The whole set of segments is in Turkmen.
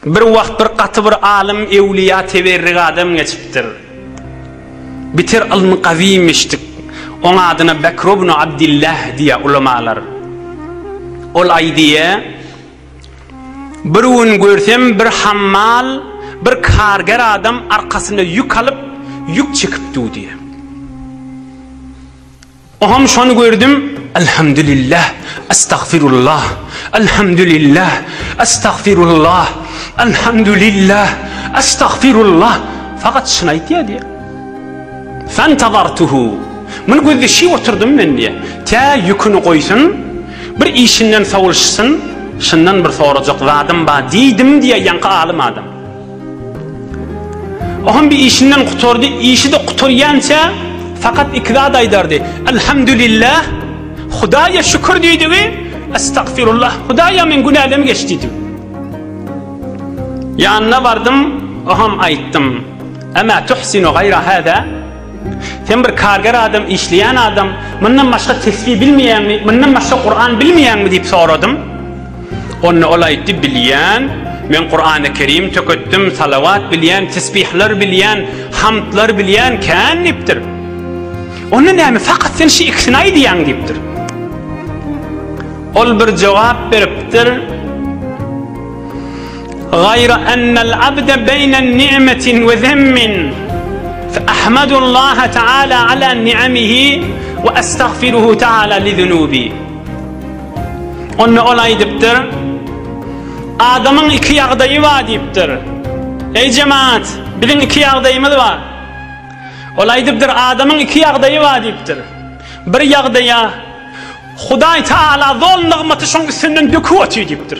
Bir wagt bir gaty bir alym ewliýa teberrik adam geçipdir. Biter ylmy gawimmişdik. Oň adyna Bekr ibn Abdillah diýýär ulamalar. Ol aýdýa, Bir gün görsem bir hammal, bir karger adam arkasyna ýük alyp, ýük çekip dudýa. Oham şony gördüm Alhamdulillah Astagfirullah Alhamdulillah Astagfirullah Alhamdulillah Astagfirullah Fakat şyny aýtýar diýýär. Fantazartuhu Muny gözleşip oturdym men diýýär. Tä ýüküni goýsun, bir işinden sowulşsyn, şyndan bir sorajak zadym bar diýdim diýýär ýaňky alym adam. Ohan bir işinden gutardy, işi-de gutarýança fakat iki zat aýdardy. Elhamdülillah, Hudaýa şükür diýdi we Estagfirullah, Hudaýa men günälem geç diýdi. Ýanyna bardym, oham aýtdym. Emma tuhsinu gayra hada? Sen bir karger adam, işleýän adam, mundan başga tesbih bilmeýäňmi, mundan başga Kuran bilmeýäňmi diýip soradym. Onda ol aýtdy, bilýän, men Kurany Kerim töketdim, salawat bilýän, tesbihler bilýän, hamdlar bilýän kän diýipdir. Onda näme, fakat sen şu ikisini aýdýaň diýipdir. Ol bir jogap beripdir. Gaýra annal abde beýne ni'metin we zemmin, fe ahmadullaha ta'ala ala ni'amihi we estagfiruhu ta'ala li zunubi. Onda ol aýdypdyr, Adamyň iki ýagdaýy bar diýipdir. Eý jemagat, biziň iki ýagdaýymyz bar. Ol aýdypdyr, Adamyň iki ýagdaýy bar diýipdir. Bir ýagdaýa Hudaý Ta'ala zol nygmaty şoň üstünden döküp otyr diýipdir.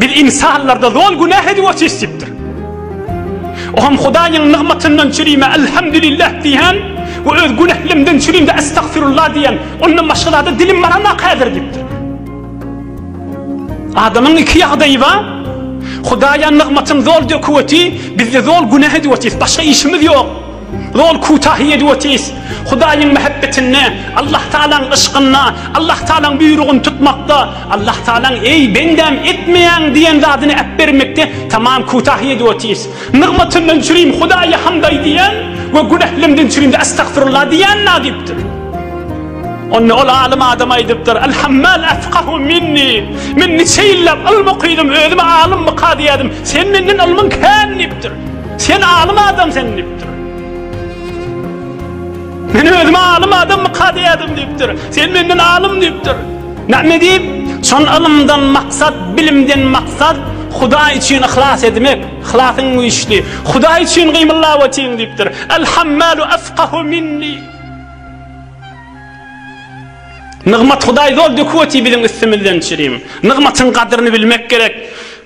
Biz ynsanlarda zol günah edip otyrys diýipdir. Oňam Hudaýyň nygmatyndan çürime Elhamdülillah diýen we öz günählimden çürimde Estagfirullah diýen, ondan başga zada dilim baranok häzir diýipdir. Adamyň iki ýagdaýy bar, Hudaýa nygmatyn zol döküp otyr, bizde zol günah edip otyrys, başga işimiz ýok. Ýol kutahy ýedi we tiz. Hudaýyň mähebbetinde, Allahtagalaň yşkynda, Allahtagalaň buýrugyny tutmakda, Allahtagalaň Eý, bendäm, etmeýäň diýen zadyny äpbermekde tamam kutahy ýedi we tiz. Nygmatyndan çürim Hudaýa hamd aý diýen we günählemden çürimde Astagfirullah diýen nadipdir. Onda ol alym adam aýdypdyr, Al-Hammal afkahu minni, Men niçe ýyllap ylym okydym, özüme alym mykady ýazdym, sen menden ylmyň kän diýipdir. Sen alym adam sen dipdir. Men özüme alym adam mı kadeyadım dipdir. Sen menden alym dipdir. Näme diýip? Şon ylymdan maksat, bilimden maksat Hudaý üçin yhlas edmek. Yhlasyň güýçli. Hudaý üçin gymyllap otyň diýipdir. El hammalu afqahu minni. Nygmat Hudaý zol döküp otyr biziň üstümizden çirim. Nygmatyň gadryny bilmek gerek.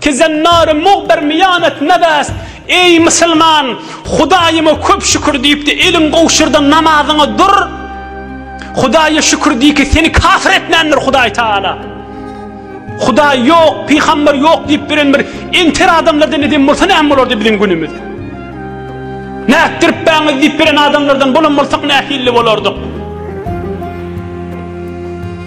Tizen nary muhber miýanet nebäst, Eý, musulman, Hudaýyma köp şükür diýipdi, eliň gowşurdan namazyňa dur. Hudaýa şükür diýki, seni kafir etmändir Hudaý Taala. Hudaý ýok, pygamber ýok diýip bilen bir enter adamlardan edem bolsa näme bolardy biziň günümiz? Nätdirip bäňiz diýip bilen adamlardan bolan bolsak nähilli bolardyk?